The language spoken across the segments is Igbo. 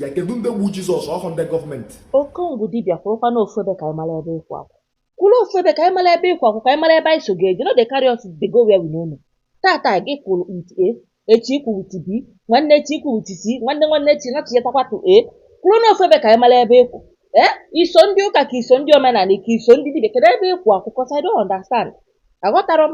ya kedu ndị gbu jizọs ọhụ ndị gọọmenti okongwu dibịa kwụrụkwa na ofu ebe ka anyị mara ebe ị kwụ akwụ kwụrụ ofu ebe ka anyị mara ebe ị kwụ akwụ ka anyị mara ebe anyị so ga-eje no dey carry us dey go where we no know tata gị kwụrụ with a echi ị kwụ with b nwanne echi ị kwụ with c nwanne nwanne echi natụnyetakwa to a kwụrụ na ofu ebe ka anyị mara ebe ị kwụ ee i so ndị ụka ka i so ndị omenala ka i so ndị dibịa kedu ebe ị kwụ akwụ cos i don't understand aghọtarọ m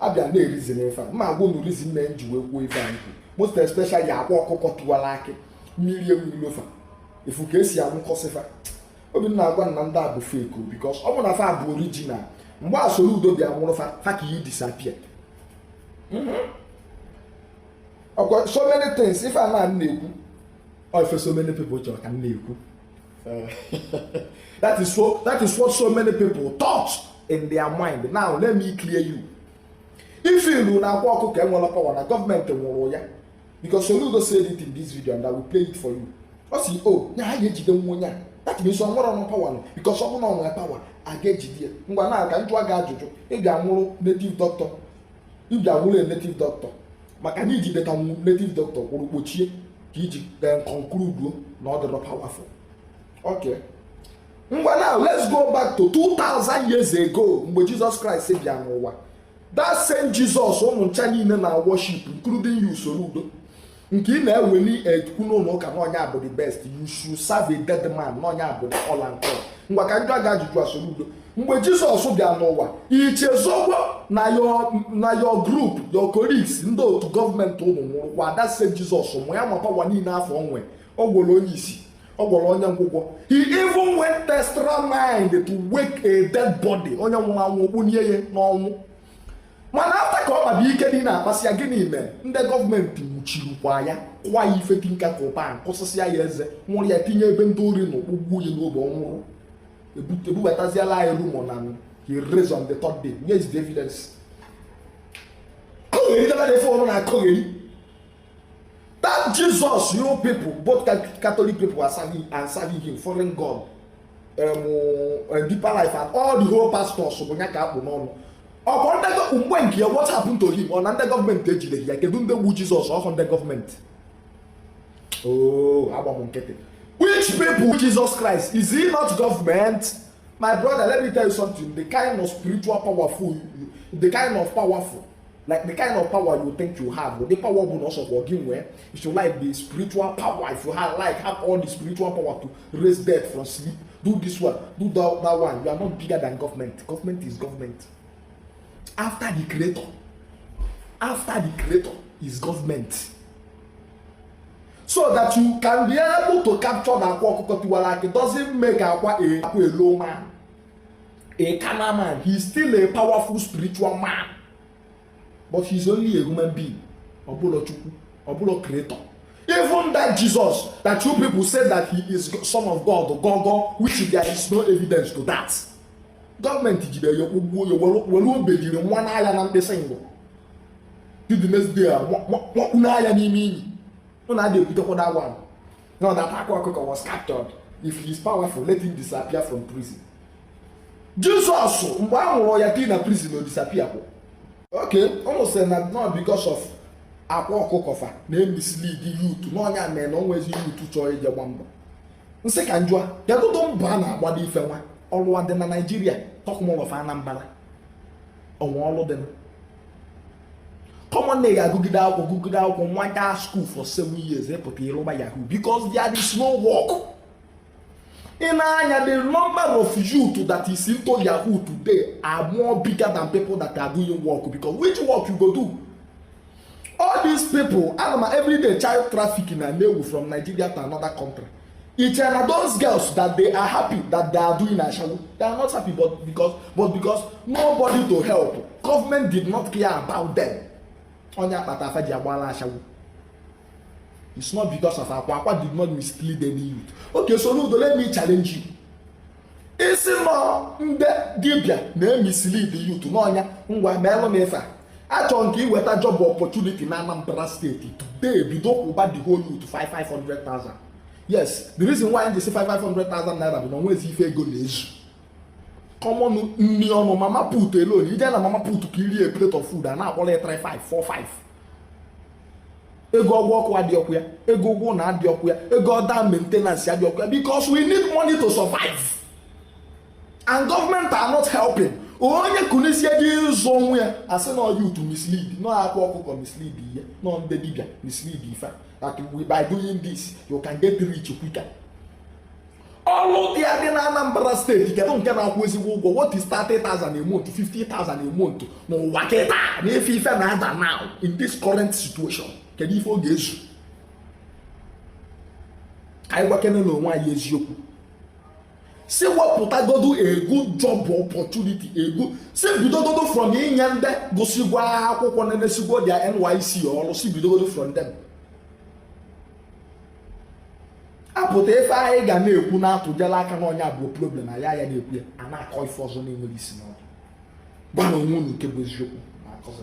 a bịa na reason ife a ma agwa unu reason me m ji wee kwuo ife anyị most especially akwa ọkụkọ tụwara akị mmiri enwerọ ilo fa ị fụ ka e si anwụkọsị fa obi m na-agwa m na ndị a bụ fake because ọ bụ na fa bụ original mgbe a soludo bịa nwụrụ fa fa ka iyi disappear okay so many things ife a na m na-ekwu ọ ife so many people chọrọ ka m na-ekwu that is so that is what so many people thought in their mind now let me clear you if you feel na akwa ọkụkọ enwerọ power na gọọmenti nwụrụ ya because soludo said it in this video and i will play it for you ọ sị o oh, ya ha ga-ejide nwa onye a that means ọ nwerọnụ power nọ because ọ bụrụ na ọ nwere power a ga-ejide ya ngwa na ka m jụọ gị ajụjụ ị ga-anwụrụ native doctor ị ga-anwụrụ native doctor maka na i jideta native doctor kwụrụ kpochie ka i ji conclude na ọ dịrọ powerful okay ngwa now let's go back to 2000 years ago mgbe Jesus Christ bịa n'ụwa that same Jesus ụnụ ncha niile na worship including you soludo nke ị na-eweli ekwu n'ụlọ ụka na ọ nya bụ the best you should serve a dead man na ọ nya bụ all and all ngwa ka m jụọ gị ajụjụ a soludo mgbe jizọs bịa n'ụwa i chezọgo na your group your colleagues ndị otu gọọmenti ụnụ nwụrụkwa that same jizọs ma ya ma power niile afụ o nwe ọ gwọrọ onye isi ọ gwọrọ onye ngwụgwọ he even went extra mind to wake a dead body onye nwụrụ anwụ ọ kpọnie ya n'ọnwụ mana after ka ọ kpaba ike dị na-akpasị ya gịnị mee ndị gọọmenti nwụchirikwa ya kụọ ya ife tinker kụ pan kụsịsịa ya eze nwụrụ ya tinye ebe ndị ori nọ kpọgbuo ya n'obe ọ nwụrụ ebubataziela anyị rumor na he raised on the third day where is the evidence akọgheri dara na ife ụnụ na-akọgheri that jesus you people both catholic people are serving and serving him foreign god um, uh, deeper life and all the whole pastors bụ ya ka a kpụ n'ọnụ ọkwa ndị mgbe nke ya what happened to him ọ na ndị gọọmenti ejideghị ya kedu ndị gbu jizọs ọhụ ndị gọọmenti oh, agbam nkịtị which people Jesus Christ is he not government my brother let me tell you something the kind of spiritual powerful the kind of powerful like the kind of power you think you have the power bụ na ọsọ for gị nwee if you like the spiritual power if you have, like have all the spiritual power to raise death from sleep do this one do that, that one you are not bigger than government government is government after the creator after the creator is government so that you can be able to capture na akwa ọkụkọ tiwara akị doesn't make akwa a akwa a low man a carnal man he is still a powerful spiritual man but he is only a human being ọ bụrọ chukwu ọ bụrọ creator even that jesus that you people say that he is son of god gogo which there is no evidence to that gọọmenti jidere ya kpọgbuo ya were obejiri manye ya na mkpịsị ngụ the next day wakpu n'anya n'ime iyi ọ na-adị ekwutekwa that one now that akwa ọkụkọ was captured if he is powerful let him disappear from prison Jesus mgbe a nwụrụ ya tie na prison o disappear kwụ okay ụmụ sị na not because of akwa ọkụkọ fa na-emislead youth n'ọ ya mere na onwezi youth chọọ ije gba mbọ m sị ka m jụa kedụdụ mbọ a na-agbado ife nwa ọlụ adị na Nigeria talk more of Anambra o nwe ọrụ dị common name agụgide akwụkwọ gụgide akwụkwọ nwa gaa school for seven years ị pụta ị rụba yahoo because there is no work i nee anya the number of youth that is into yahoo today are more bigger than people that are doing work because which work you go do all these people a na-eme everyday child trafficking na-ebu from nigeria to another country It na those girls that they are happy that they are doing ashawo they are not happy but because but because nobody to help government did not care about them onye akpata afa ji agbala ashawo it's not because of akwa akwa did not mislead any youth okay so n'udo let me challenge you ị sị n'ọ ndị dibịa na-emislead youth n'ọ ya ngwa meelụ m ife a chọrọ nke iweta job opportunity na Anambra steeti today bido kwụba the whole youth 5500,000 yes the reason why m ji sị 5500,000 naira bụ na onwezi ife ego na-ezu common nri ọnụ mama put alone i je na mama put ka i rie plate of food a na-akpọrọ ya 3545 ego ụgwọ ọkụ adịọkwu ya ego ụgwọ ụnọ adịọkwu ya ego other maintenance adịọkwu ya because we need money to survive and government are not helping onye kunisie dị ịzụ onwe ya a sị na ọ youth mislead n'ọ akwa ọkụkọ mislead ihe n'ọ ndị dibịa mislead ife that by doing this you can get rich quicker ọlụ dị adị na Anambra steeti kedụ nke na-akwụ ezigbo ụgwọ what is 30,000 a month 50,000 a month n'ụwa kịta na ife ife na-ada now in this current situation kedu ife ọ ga-ezu ka anyị gwakenenụ onwe anyị eziokwu sị wepụtagodo a good job opportunity sị bidogodo from inye ndị gụsịgwo akwụkwọ na-emesigwo their NYSC ọrụ sị bidogodo from them a pụta ife anyị ga na-ekwu na-atụjela aka na ọ ya bụ problem anyị a ya na-ekwu ya a na-akọ ife ọzọ na-enwerọ isi n'ọdụ gwanụ onwe unu nke bụ eziokwu na-akọzi